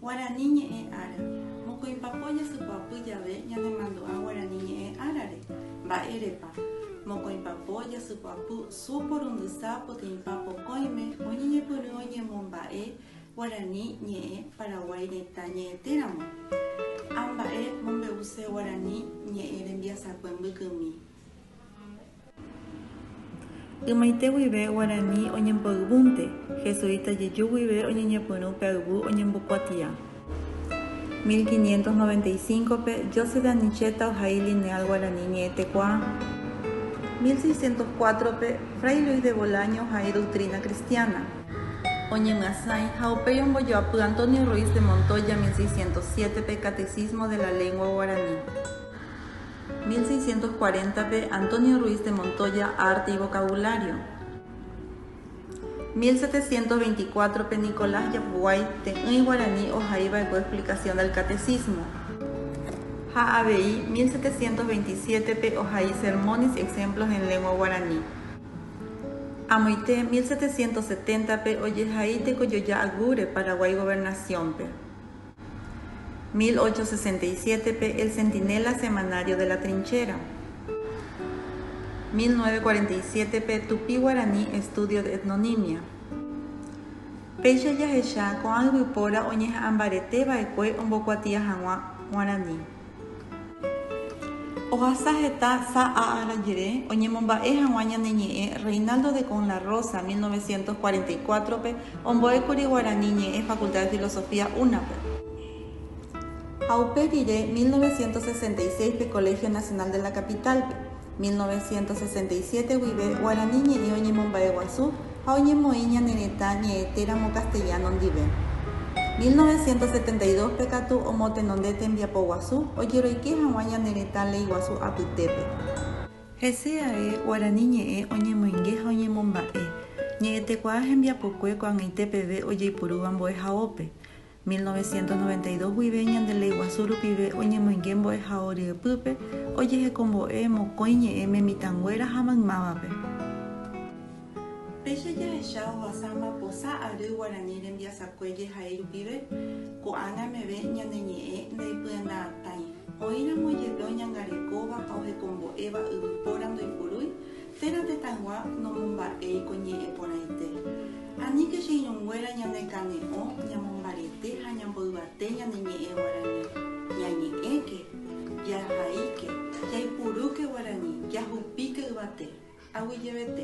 Guarani ñe'ẽ ára. Mokõi papo jasypy'apy jave ñanemandu'a Guarani ñe'ẽ árare. Mba'érepa? Mokõi papo jasypy'apy su porundysa poteĩpa pokõime oñeñepyrũ oñemomba'e Guarani ñe'ẽ Paraguái retã ñe'ẽtéramo. Amba'e mombe'use Guarani ñe'ẽ rembiasakue mbykymi. Ymaite guive guarani oñemboyvúnte, jesuíta jeju guive oñeñepyrũ pe ayvu oñembokuatia. 1595-pe, Joseph de Anicheta ohai Lineal Guarani Ñe'ẽtekuaa. 1604-pe, Fray Luis de Bolaño ohai Doctrina Cristiana. Oñemyasãi ha upéi ombojoapy Antonio Ruiz de Montoya 1607-pe Catecismo de la Lengua Guarani. 1640-pe, Antonio Ruiz de Montoya, Arte y vocabulario. 1724-pe, Nicolás Yapguay, Te'ỹi Guarani ohai va'ekue explicación del Catecismo. Ha avei, 1727-pe, ohai Sermones y exemplos en lengua guarani. Amoite, 1770-pe, ojehai tekojoja Agure, Paraguay Gobernación-pe. 1867-pe El Centinela Semanario de la Trinchera. 1947-pe Tupi-Guarani Estudio de Etnonimia. Péicha jahecha ko'ã yvypóra oñeha'ãmbarete va'ekue ombokuatia hag̃ua Guarani. Ohasa heta sa'a ára jere, oñemomba'e hag̃ua ñane ñe'ẽ Reinaldo de Con la Rosa, 1944-pe, ombo'ékuri guarani ñe'ẽ Facultad de Filosofía, UNA-pe, ha upe rire, 1966-pe, Colegio Nacional de la Capital-pe. 1967 guive guarani ñe'ẽ oñemomba'eguasu ha oñemoĩ ñane retã ñe'ẽ téramo castellano ndive. 1972 pe katu omotenonde tembiapo guasu ojeroike haguã ñane retã ley guasu apytépe. Hese ae guarani ñe'ẽ oñemoinge ha oñemomba'e ñe'ẽtekuaa hembiapokue ko'ag̃aite peve ojeipurúva mbo'ehaópe. 1992 guive ñande Léi Guasu rupive oñemoinge mbo'ehao ryepýpe ojehekombo'e mokõi ñe'ẽme mitãnguéra ha maymávape. Péicha jahecha ohasa maposa ary guarani rembiasakue jehai rupive, ko'ág̃a meve ñane ñe'ẽ ndaipyenda'atãi. Oĩramo jepe oñangarekóva ha ohekombo'éva yvypóra ndoipurúi, Térã tetãygua nomomba'éi ko ñe'ẽ porãite. Aníke che irũnguéra ñanekane'õ ñamombarete ha ñamboyvate ñane ñe'ẽ guarani. Ñañe'ẽke, jahaíke, jaipurúke guarani, jahupíke yvate, aguyjevete.